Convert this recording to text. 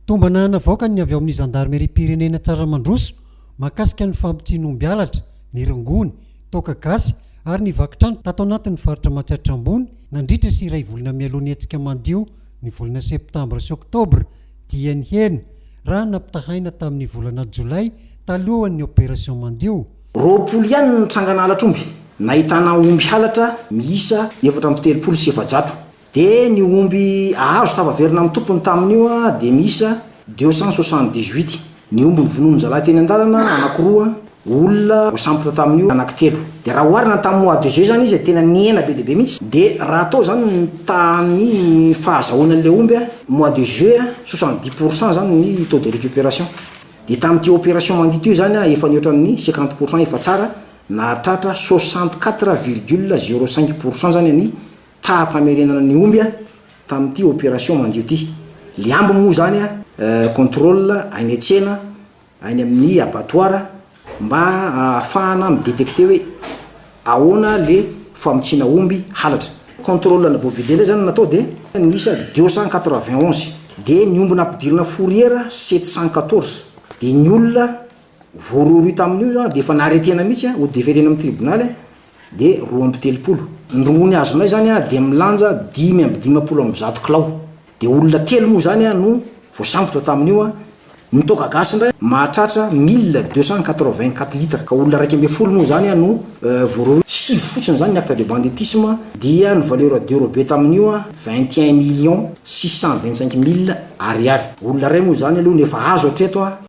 Tombana navoaka ny avy ao amin'ny zandarimeriam-pirenena Tsaramandroso mahakasika ny fampitsiana omby halatra, ny rongony, toaka gasy ary ny vaky trano tato anatin'ny faritra Matsiatra Ambony nandritra sy iray volana mialoha ny hetsika mandio ny volana septambra sy oktobra dieny hena raha nampitahaina tamin'ny volana jolay talohan'ny opération mandio Roapolo ihany ny trangana halatr'omby nahitana omby halatra miisa efatra amby telopolo sy efajato Dia ny omby azo tafaverina amin'ny tompony tamin'io dia miisa deux cent soixante dix huit. Ny omby novonoin'ny zalahy teny an-dalana anankiroa, olona voasambotra tamin'io anankitelo. Dia raha oharina ny tamin'ny mois de juin izany izy dia tena nihena be dia be mihitsy. Dia raha atao izany ny tamin'ny fahazahoana an'ilay omby mois de juillet, soixante dix pour cent izany ny taux de récupération. Dia tamin'ity opération mangidy ity izany efa nihoatra ny cinquante pour cent efa tsara, nahatratra soixante quatre virgule zero cinq pour cent izany ny. tsaram-pamerenana ny omby tamin'ity opération mandio ity. Liambo moa izany a, contrôle any an-tsena, any amin'ny abattoir mba ahafahana mi-détecter hoe ahoana ilay famotsiana omby halatra. Contrôle ana bovidés indray izany no natao dia niisa deux cent quatre-vingt onze. Dia ny omby nampidirina fourrière sept cent quatorze. Dia ny olona voarohirohy tamin'io izy an, dia efa naharetena mihitsy an, ho deferena amin'ny tribonaly an, dia roa amby telopolo. Ny rongony azonay izany an, dia milanja dimy amby dimampolo amby zato kilao. Dia olona telo moa izany an no voasambotra tamin'io an, ny toaka gasy indray mahatratra mille deux cent quatre vingt quatre litres, ka olona iraika ambin'ny folo moa izany an no voarohirohy. Sivy fotsiny izany ny acte de banditisme, dia ny valeur dérobée tamin'io an, vingt et un millions six cent vingt cinq mille ariary. Olona iray moa izany aloha no efa azo hatreto an.